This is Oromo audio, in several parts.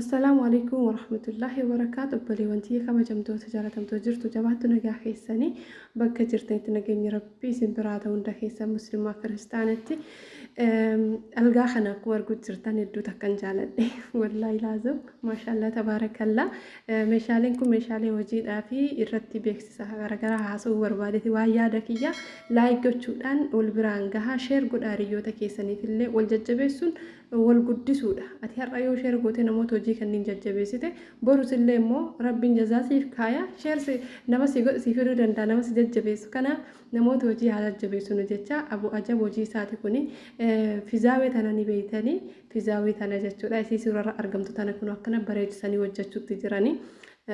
Assalaamu Aleeykum Warahmatullaahi Wabarakaatu Obboleewwan tiyya kabajamtoota jaalatamtoo jirtu jabaattu nagaa keessanii bakka jirtanitti nageenyi rabbii isin biraa ta'u hunda keessan muslimaa kiristaanatti algaa kana akkuma arguu jirtan hedduu takkan jaaladhe wallaahi laazim maashaallaa tabaarakallaa meeshaaleen kun meeshaalee hojiidhaa fi irratti beeksisa garaagaraa haasa'uu barbaadeti waa yaada kiyya laayik gochuudhaan wal biraan gahaa sheer godhaa hiriyoota keessaniif illee wal jajjabeessuun wal guddisuudha. Ati har'a yoo share gootee namoota hojii kanniin jajjabeessite borus illee immoo Rabbiin jazaa siif kaaya. Share si nama si godhu siif hiruu danda'a nama si jajjabeessu. Kanaaf namoota hojii haa jajjabeessinu jecha abu ajab hojii isaati kuni fizaawee tana ni beeytanii fizaawee tana jechuudha. Isii suurarra argamtu tana kun akkana bareechisanii hojjechuutti jiranii.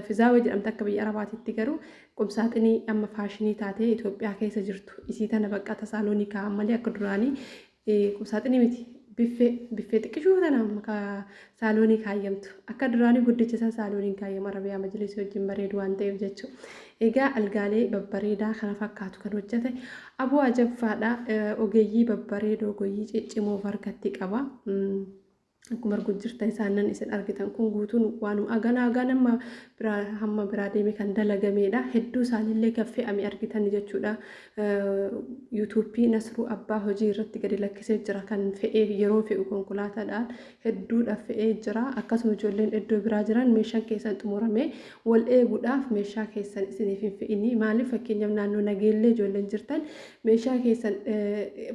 Fizaawee jedhamte akka biyya Arabaatitti garuu qubsaaxinii amma faashinii taatee Itoophiyaa keessa jirtu isii tana bakka tasaaloonikaa malee akka duraanii Qubsaaxinii miti biffee biffee xiqqishuu tana maka saaloonii kaayyamtu akka duraanii guddicha san saalooniin kaayyama arabiyaa majlisii wajjin bareedu waan ta'eef jechuu egaa algaalee babbareedaa kana fakkaatu kan hojjete aboo ajabfaadha ogeeyyii babbareedoo goyyii ciccimoo of harkatti qaba. akkuma arguu jirtan isaannan isin argitan kun guutuun waanuma aganaa agaa nama biraa hamma biraa deeme kan dalagameedha hedduu isaaniillee kan fe'ame argitan jechuudha yuutuubii nasruu abbaa hojii irratti gadi lakkisee jira kan fe'ee yeroo fe'u konkolaataadhaan hedduudha fe'ee jira akkasuma ijoolleen iddoo biraa jiran meeshaan keessan xumurame wal eeguudhaaf meeshaa keessan isiniif hin fe'inii maaliif fakkeenyaaf naannoo nageellee ijoolleen jirtan meeshaa keessan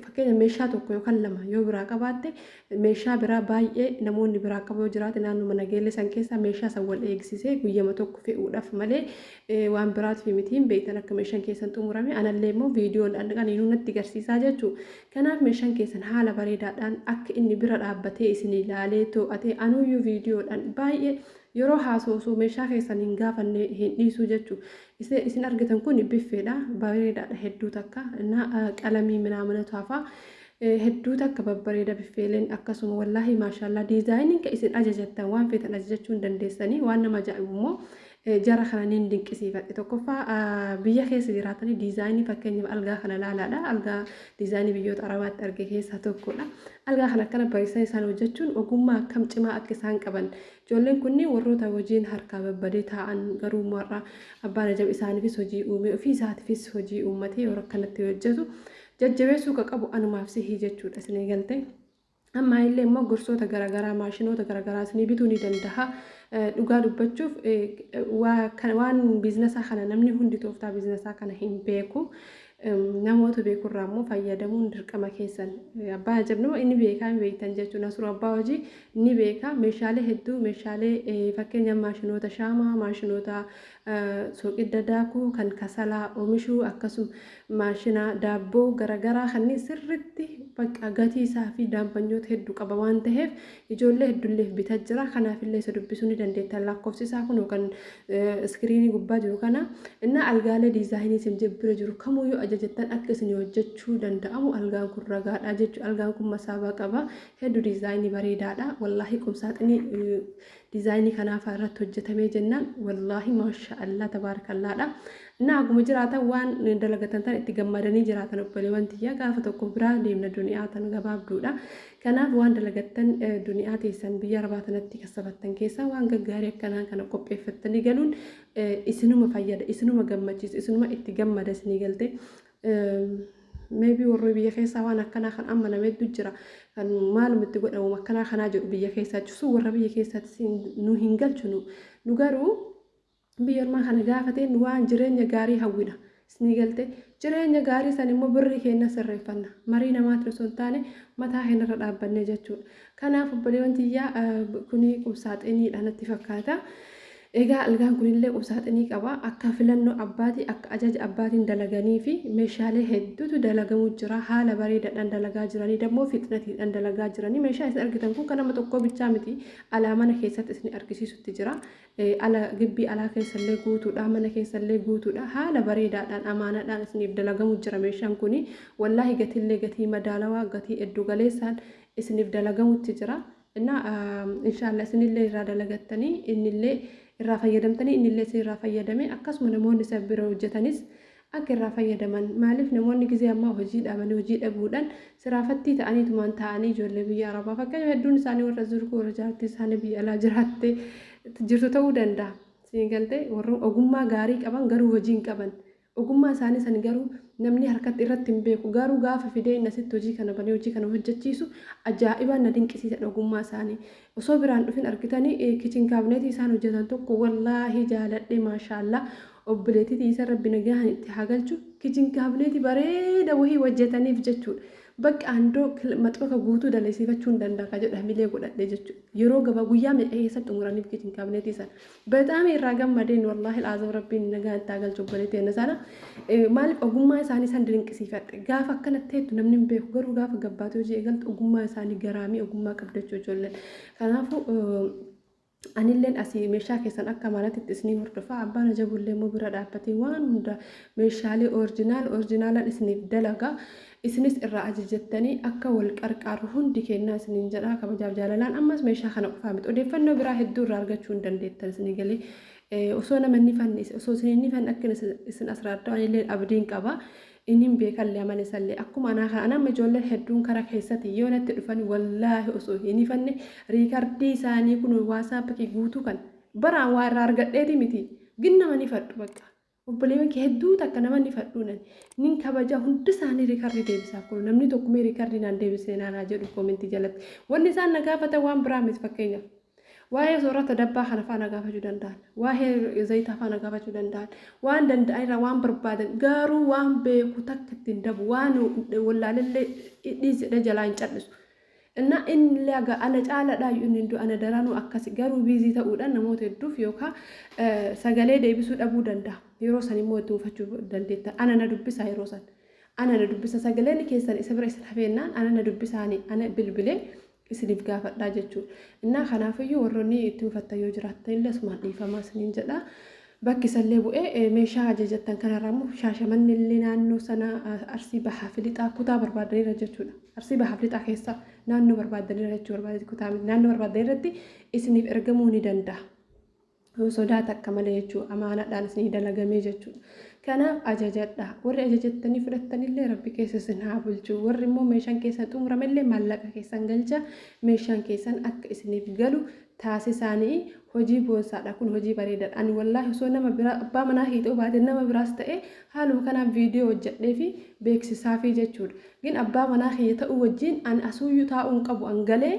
fakkeenya meeshaa tokko yookaan lama yoo biraa qabaatte Meeshaa biraa baay'ee namoonni biraa qabu yoo jiraate naannuma nageellee san keessaa meeshaa san wal eegsisee guyyama tokko fe'uudhaaf malee waan biraatiif miti hin beektan akka meeshaan keessan xumurame anallee immoo viidiyoon aniinuu natti garsiisaa jechuu kanaaf meeshaan keessan haala bareedaadhaan akka inni bira dhaabbatee isin ilaalee too'atee anuuyyuu viidiyoodhaan baay'ee yeroo haasoosu meeshaa keessan hin gaafanne hin dhiisuu jechuu isin argitan kun biffeedha bareedaadha hedduu takka na qalamii minaaminatu hafaa Hedduu takka babbareeda biffeeleen akkasuma wallaahi maashaallah diizaayininka isin ajajattan waan feetan ajajachuu hin dandeessanii waan nama ajaa'ibu immoo jara kana niin dinqisiifadhe tokkoffaa biyya keessa jiraatanii diizaayinii fakkeenyaaf algaa kana laalaadha algaa diizaayinii biyyoota arabaatti arge keessaa tokkodha algaa kana akkana bareessan isaan hojjechuun ogummaa akkam cimaa akka isaan qaban ijoolleen kunniin warroota hojiin harkaa babbadee taa'an garuu mar'a abbaan ajab isaaniifis hojii uumee ofii isaatiifis hojii uummatee yeroo akkanatti hojjetu jajjabeessuu ka qabu anumaaf sihi jechuudha isinii galtee ammaa illee immoo gorsoota garagaraa maashinoota garagaraa isinii bituu ni dandaha dhugaa dubbachuuf waan biizinasaa kana namni hundi tooftaa biizinasaa kana hin beeku namoota beekurraa immoo fayyadamuun dirqama keessan abbaa ajabnuma inni beekaa hin beektan jechuun asuru abbaa hojii ni beeka meeshaalee hedduu meeshaalee fakkeenya maashinoota shaamaa maashinoota soqidda daakuu kan kasalaa oomishuu akkasuma maashina daabboo garagaraa kanniin sirritti bakka gatii isaa fi daampanyoota heddu qaba waan taheef ijoollee heddulleef bita jira kanaaf illee isa dubbisuu ni dandeettan lakkoofsi isaa kunoo kan iskiriinii gubbaa jiru kana innaa algaalee diizaayinii isin bira jiru kamuu yoo ajajattan akka isin hojjechuu danda'amu algaan kun ragaadha jechu algaan kun masaabaa qaba heddu diizaayinii bareedaadha wallaahi qumsaaxinii Dizaayinii kanaafaa irratti hojjetamee jennaan wallaahi maasha Allah tabaarakallaadha. Innaa haguma jiraatan waan dalagatan tan itti gammadanii jiraatan obboleewwan tiyya gaafa tokko biraa deemna duniyaa tan gabaabduudha. Kanaaf waan dalagattan duniyaa teessan biyya arbaa tanatti kassabattan keessaa waan gaggaarii akkanaa kana qopheeffattanii galuun isinuma fayyada isinuma gammachiisa isinuma itti gammada isinii galtee May be warri biyya keessaa waan akkanaa kan ammaname hedduu jira. Kan maaluma itti godha wama akkanaa kanaa jedhu biyya keessaa cusuu warra biyya keessaatis hin- nu hin galchinu. Nu garuu biyya ormaa kana gaafatee nu waan jireenya gaarii hawwina. Isni galte jireenya gaarii san immoo birrii keenya sirreeffanna. Marii namaatiin osoo hin taane mataa keenya irra dhaabbannee jechuudha. Kanaaf obboleewwan tiyyaa eh, kuni qubsaaxiniidha natti fakkaata. Egaa algaan kunillee qubsaaxinii qaba. Akka filannoo abbaatii, akka ajaja abbaatiin dalaganiifi meeshaalee hedduutu dalagamuu jira. Haala bareedaadhaan dalagaa jiranii dammoo fixnatiidhaan dalagaa jiranii. Meeshaan isin argitan kun kan nama tokkoo bichaa miti. Alaa mana keessatti isin argisiisutti jira. Ala gibbii alaa keessallee guutuudha. Mana keessallee guutuudha. Haala bareedaadhaan amaanaadhaan isiniif dalagamuu jira meeshaan kuni. Wallaahi gatiillee gatii madaalawaa gatii eddu galeessaan isiniif dalagamutti jira. Innaa inshaalla isinillee irraa dalagattanii innillee irraa fayyadamtanii innillee isin irraa fayyadamee akkasuma namoonni isa bira hojjatanis akka irraa fayyadaman maaliif namoonni gizee ammaa hojii dhaabanii hojii dhabuudhaan siraafattii ta'aniitumaan taa'anii ijoollee biyya arabaa fakkeenya hedduun isaanii warra zurkuu warra jaartii isaanii biyya alaa jiraatte jirtu ta'uu danda'a siin galtee warra ogummaa gaarii qaban garuu hojii hin qaban Ogummaa isaanii san garuu namni harkatti irratti hin beeku. Garuu gaafa fidee inni asitti hojii kana banee hojii kana hojjachiisu ajaa'ibaan na dinqisiisadha ogummaa isaanii. Osoo biraan dhufin argitanii kitchen cabinet isaan hojjatan tokko wallaahi jaaladhe maashaallah obboleettii tiyysan rabbi nagahan itti haa galchu kitchen cabinet bareeda wahii hojjataniif jechuudha. Bakka andoo maxbaka guutuu daleesiifachuu hin danda'a ka jedhu hamilee godhadhe jechuudha. Yeroo gabaa guyyaa meeqa keessatti xumuraniif kitchen cabinet isaan. Bexaami irraa gammadeen wallaahi alazim rabbiin nagaan itti haa galchu obboleetti teenna sana maaliif ogummaa isaanii san dinqisiifadhe gaafa akkana teettu namni hin beeku garuu gaafa gabbaatee hojii eegaltu ogummaa isaanii garaamii ogummaa qabdachuu ijoolleen kanaafuu anilleen asii meeshaa keessan akka maalaatti itti isinii hordofaa abbaan ajabullee immoo bira dhaabbatee waan hunda meeshaalee oorjinaal oorjinaalaan isiniif dalagaa isinis irraa ajajattanii akka wal qarqaarru hundi keennaa isiniin jedha kabajaaf jaalalaan ammas meeshaa kana qofaa miti odeeffannoo biraa hedduu irraa argachuu hin dandeettan isinii galee Eh, osoo nama inni fanne is- osoo isin inni fanne akka isin- isin asraartu anillee abdiin qaba inin beekallee amala isallee akkuma anaa kana anamma ijoolleen hedduun kara keessatti yoo natti dhufan wallaahi osoo hin fanne riikardii isaanii kun waasaappi guutuu kan baraan waa irraa argadheeti miti ginnama ni fadhu bakka Obboleewwan kee hedduu takka nama ni fadhuunan nin kabaja hunda isaanii rikarri deebisaaf kunu namni tokko mee rikarri naan deebisne naan haa jedhu koomentii jalatti wanni isaan na gaafatan waan biraa miti fakkeenyaaf waa'ee soorata dabbaa kana faa na gaafachuu danda'an waa'ee zayitaa faa na gaafachuu danda'an waan danda'an irraa waan barbaadan gaaruu waan beeku takka ittiin dabu waan wallaalellee dhiisedha jalaa hin cal'isu Innaa inni illee aga ana caaladhaayu inni hin du ana daranuu akkasi garuu busy ta'uudhan namoota hedduuf yookaa sagalee deebisuu dhabuu danda'a yeroo san immoo itti mufachuu dandeettan ana na dubbisaa yeroo san ana na dubbisa sagaleen keessan isa bira isin hafeennaan ana na dubbisaani ana bilbilee isiniif gaafadhaa jechuu innaa kanaafiyyuu warronni itti mufattan yoo jiraattan illee asumaan dhiifamaa isiniin jedha Bakki isallee bu'e meeshaa ajajattan kanarraa immoo Shaashamanne illee naannoo sana Arsii Bahaa fi Lixaa kutaa barbaaddanirra jechuudha. Arsii Bahaa fi Lixaa keessa naannoo barbaaddanirra jechuu barbaadeti kutaa miti. Naannoo barbaaddanirratti isiniif ergamuu ni danda'a. Sodaa takka malee jechuu amaanaadhaan isinii dalagamee jechuudha. Kanaaf ajajadha. Warri ajajattanii fudhattanillee rabbi keessa isin haa bulchu. Warri immoo meeshaan keessan xumurame illee maallaqa keessan galcha. Meeshaan keessan akka isiniif galu taasisaani hojii boonsaadha kun hojii bareedaadha ani wallaahi osoo nama biraa abbaa manaa kiyya ta'uu baate nama biraas ta'e haaluma kanaan viidiyoo hojjadheefi beeksisaafii jechuudha gin abbaa manaa kiyya ta'uu wajjiin ani asuuyyuu taa'uu hin qabu an galee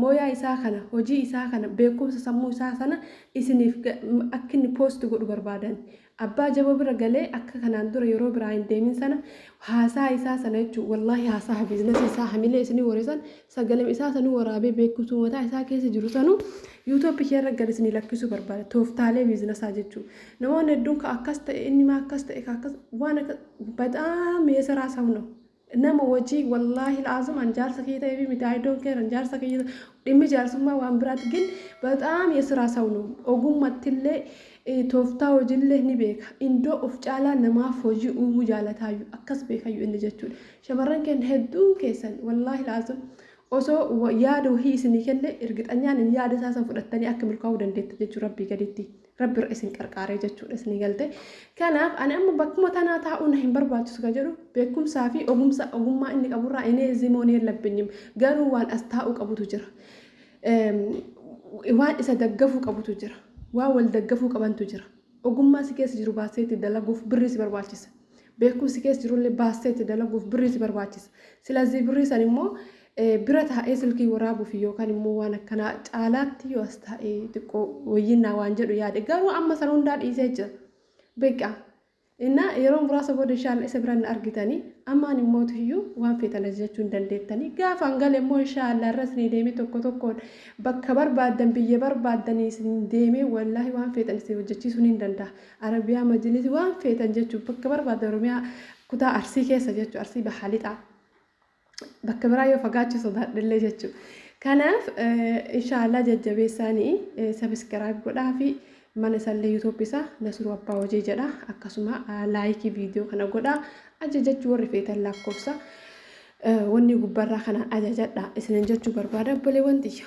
mooyaa isaa kana hojii isaa kana beekumsa sammuu isaa sana isiniif akka inni post godhu barbaadani Abbaa jaboo bira galee akka kanaan dura yeroo biraa hin deemin sana haasaa isaa sana jechuun wallaahi haasaa biiznasii isaa hamilee isinii waree san sagalem isaa sanuu waraabee beekumsuu mataa isaa keessa jiru sanuu yuutooppi kee irra gad isinii lakkisuu barbaada tooftaalee biizinasaa jechuun namoonni hedduun ka akkas ta'e inni maa akkas ta'e ka akkas waan akka baxaam yeesaraa saw no nama wajii wallaahi la'aazim an jaarsa kee ta'eefi miti I don't care an jaarsa kee dhimmi jaarsummaa waan biraati gin baxaam yesiraa saw no ogummattillee tooftaa hojiillee ni beeka indoo of caalaa namaaf hojii uumuu jaalataayyu akkas beekayyu inni jechuudha shamarran keen hedduun keessan wallaahi la'aazim osoo yaada wahii isinii kenne irgixanyaan hin yaada isaa san fudhattanii akka milkaa'uu dandeettan jechuu rabbii gaditti Rabbi irra isin qarqaaree jechuudha isinii galte. Kanaaf ani amma bakkuma tanaa taa'uu na hin barbaachisu kan jedhu beekumsaa fi ogumsa ogummaa inni qaburraa inee zimoon yellabbinyiim garuu waan as taa'uu qabutu jira. Waan isa daggafuu qabutu jira. Waan wal daggafuu qabantu jira. Ogummaa si keessa jiru baasee itti dalaguuf birrii si barbaachisa. Beekumsi keessa jirullee baasee itti dalaguuf birrii si barbaachisa. Silazii birrii san immoo Bira taa'ee silkii waraabuuf yookaan immoo waan akkanaa caalaatti yoo as taa'ee xiqqoo wayyinnaa waan jedhu yaade garuu amma sana hundaa dhiisee jira. Beekaa. Innaa yeroo muraasa booda inshaalla isa biraan na argitanii ammaan immoo tuyyuu waan feetan ajajachuu hin dandeettanii gaafa an gale immoo inshaalla irras ni deemee tokko tokkoon bakka barbaaddan biyya barbaaddan isin deemee wallaahi waan feetan isin hojjechiisuu ni danda'a. Arabiyaa majilisi waan feetan jechuun bakka barbaaddan Oromiyaa kutaa Arsii keessa jechuun Arsii Bahaa Lixaa. bakka biraa yoo fagaachuu sodaadhellee jechuu kanaaf inshaallah jajjabeessaanii sabiskiraayib godhaa fi mana isallee yuutuub isaa nasiruu abbaa hojii jedha akkasuma laayikii viidiyoo kana godhaa ajajachuu warri feetan lakkoofsa wanni gubbarraa kanaan ajajadha isinin jechuu barbaada obboleewwan tiyya